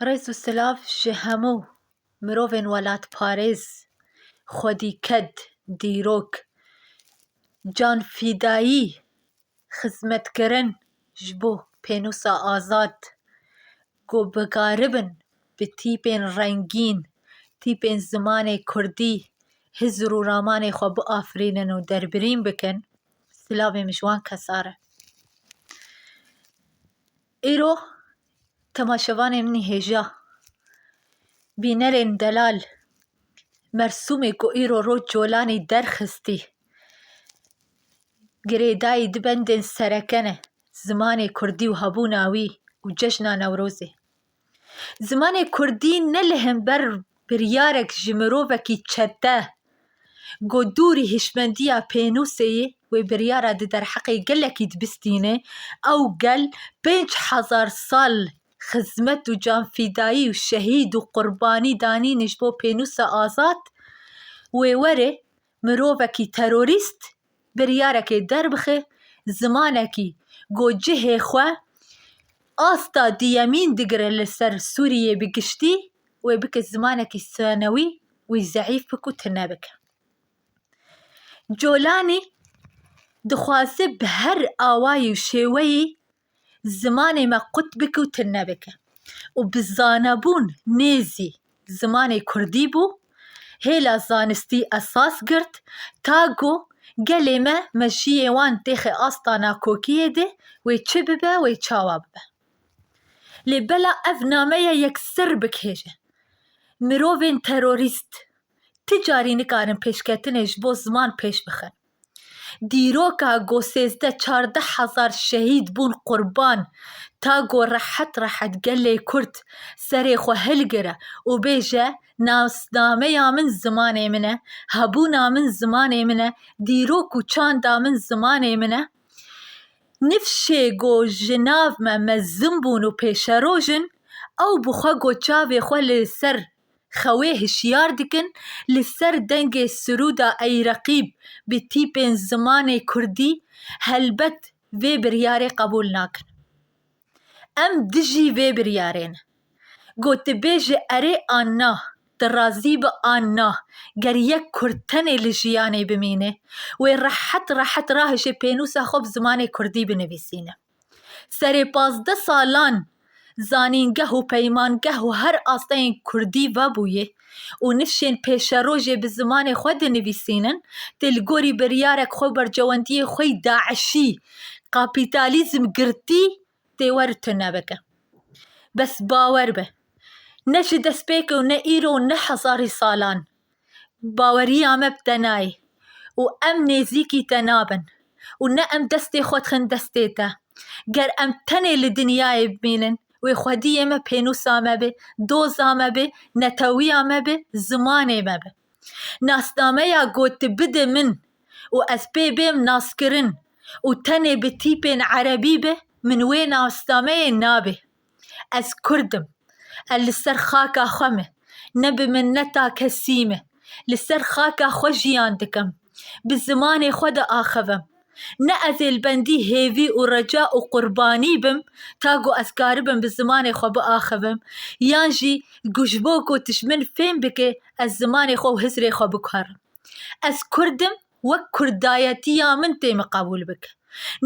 Rêz û silav ji hemû mirovên welatparêz, xwedîked, dîrok, canfîdayî, xizmetkirin ji bo pênûsa azad ku bikaribin bi tîpên rengîn, tîpên zimanê kurdî hizr û ramanê xwe biafirînin û derbirîn bikin, silavê min ji wan kesan e. Îro temaşevanê min hêja bînerên delal Mersûmê ku îro roj colanî derxistî girêdayî di bendên sereke ne, zimanê kurdî û hebûna wî û cejna Newrozê. Zimanê kurdî ne li hember biryarek ji mirovekî çete ku dûrî hişmendiya pênûsê yê wê biryara di derheqê gelekî dibistîne. Ew gel pênc hezar sal xizmet û canfîdayî û şehîd û qurbanî danîne ji bo pênûsa azad. Wê were Mirovekî terorîst biryarekê derbixe zimanekî ku cihê xwe asta duyemîn digire li ser Sûriyeyê bi giştî wê bike zimanekî sanewî wî zeîf bike û tune bike. Colanî dixwaze bi her awayî û şêweyî zimanê me qut bike û tune bike û bi zanebûn nêzî zimanê kurdî bû, hêla zanistî esas girt ta ku gelê me meşiyê wan têxe asta nakokiyê de wê çi bibe wê çawa bibe. Lê bela ev nameya yek sir bikêje mirovên terorîst ti carî nikarin pêşketinê ji bo ziman pêş bixin. Dîroka ku sêzdeh çardeh hezar şehîd bûn qurban, ta ku rehet rehet gelê Kurd serê xwe hilgire û bêje nasnameya min zimanê min e, hebûna min zimanê min e, dîrok û çanda min zimanê min e. Nifşê ku ji nav me mezin bûn û pêşerojin ew bi xwe ku çavê xwe li ser xewê hişyar dikin li ser dengê sirûda Ey Reqîb bi tîpên zimanê kurdî helbet vê biryarê qebûl nakin. Em dijî vê biryarê ne. Gotibêje erê an na, tu razî bi an na, ger yek kurd tenê li jiyanê bimîne, wê rehet rehet rahişê pênûsa xwe bi zimanê kurdî binivîsîne. Serê pazdeh salan zanîngeh û peymangeh û her asteyên kurdî vebûyê û nifşên pêşerojê bi zimanê xwe dinivîsînin, tê li gorî biryarek xwe û berjewendiyê xwe yî DAIŞ'î kapîtalîzm girtî tê wer tune bike. Bes bawer be ne ji destpêk û ne îro û ne hezarî salan. Baweriya me bi te nayê û em nêzîkî te nabin û ne em destê xwe dixin destê te. Ger em tenê li dinyayê bimînin, wê xwediyê me pênûsa me bê, doza me bê, netewiya me bê, zimanê me bê. Nasnameya got tu bide min û ez pê bêm naskirin û tenê bi tîpên erebî be, min wê nasnameyê nabê. Ez kurd im. Ez li ser xaka xwe me, ne bi minneta kesî me, li ser xaka xwe jiyan dikim. Bi zimanê xwe diaxivim. Ne ez ê li bendî hêvî û reca û qurbanî bim ta ku ez karibim bi zimanê xwe biaxivim yan jî ku ji bo ku tişt min fêm bike ez zimanê xwe û hizrê xwe bikarim. Ez kurd im wek kurdayetiya min tê min qebûl bike.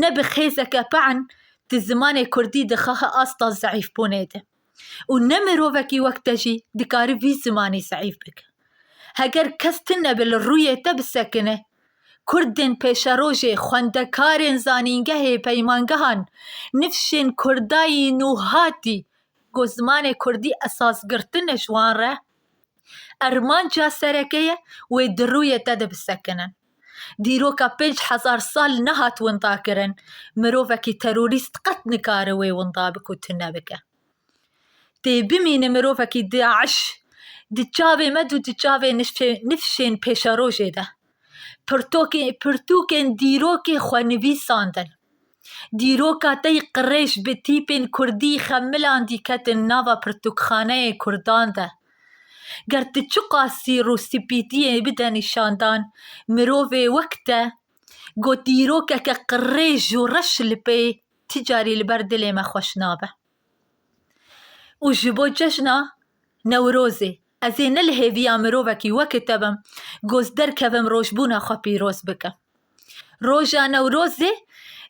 Ne bi xêzeke pe'en di zimanê kurdî dixihe asta zeîfbûnê de û ne mirovekî wek te jî dikare vî zimanî zeîf bike. Heger kes tu nebe li rûyê te bisekine, kurdên pêşerojê, xwendekarên zanîngehê, peymangehan, nifşên kurdayî nûhatî ku zimanê kurdî esas girtine ji wan re, Armanca sereke ye wê di rûyê te de bisekinin. Dîroka pênc hezar sal nehat windakirin, mirovekî terorîst qet nikare wê winda bike û tune bike. Tê bimîne mirovekî DAIŞ di çavê me de û di çavê nifşên pêşerojê de Pirtokê pirtûkên dîrokê xwe nivîsandin. Dîroka te yê qirêj bi tîpên kurdî xemilan dî ketin nava pirtûkxaneyê kurdan de. Ger tu çiqas sîr û spîtiyê bide nîşandan, mirovê wek te got dîrokeke qirêj û reş li pê ti carî li ber dilê me xweş nabe. û ji bo cejna Newrozê ez ê ne li hêviya mirovekî weke te bim ku ez derkevim rojbûna xwe pîroz bikim. Roja Newrozê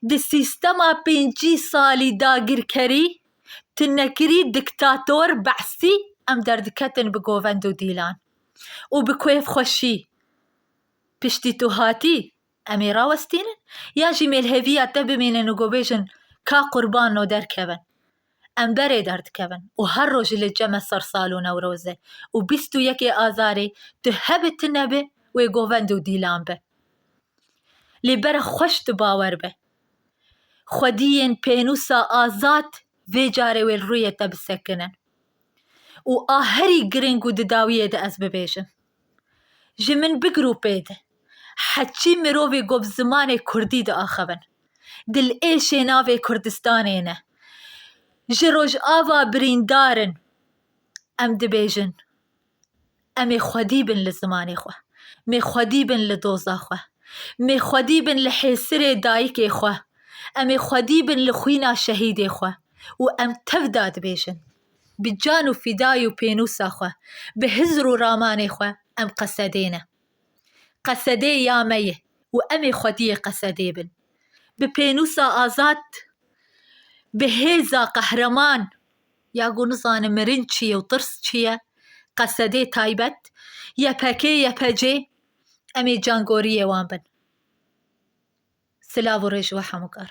di sîstema pêncî salî dagirkerî, tunekirî, diktator, be'sî em derdiketin bi govend û dîlan û bi kêfxweşî. Piştî tu hatî Em ê rawestînin ya jî mêlheviya te bimînin û gobêjin ka qurban no derkevin. Em berê derdikevin û her roj li cem e sersal û newroz e û bîst û yekê azarê tu hebe tu nebe wê govend û dîlan be. Lê bere xweş tu bawer be. Xwediyên pênûsa azad vê carê wê li rûyê te bisekinin. Û a herî giring û di dawiyê de ez bibêjim. Ji min bigir û pê de, heçî mirovê ku bi zimanê kurdî diaxivin, dilêşê navê Kurdistanê ne. Ji Rojava birîndar in, em dibêjin, Em ê xwedî bin li zimanê xwe, em ê xwedî bin li doza xwe, em ê xwedî bin li hêsirê dayikê xwe, em ê xwedî bin li xwîna şehîdê xwe û em tevda dibêjin. Bi can û fîdayê û pênûsa xwe, bi hizr û ramanê xwe em qesedê ne. Qesedê ya me ye û em ê xwediyê qesedê bin. Bi pênûsa azad, bi hêza qehreman ya ku nizanin mirin çi ye û tirs çi ye, qesedê taybet, yepekê, yepecê em ê cangoriyê wan bin. Silav û rêj we hemûkar.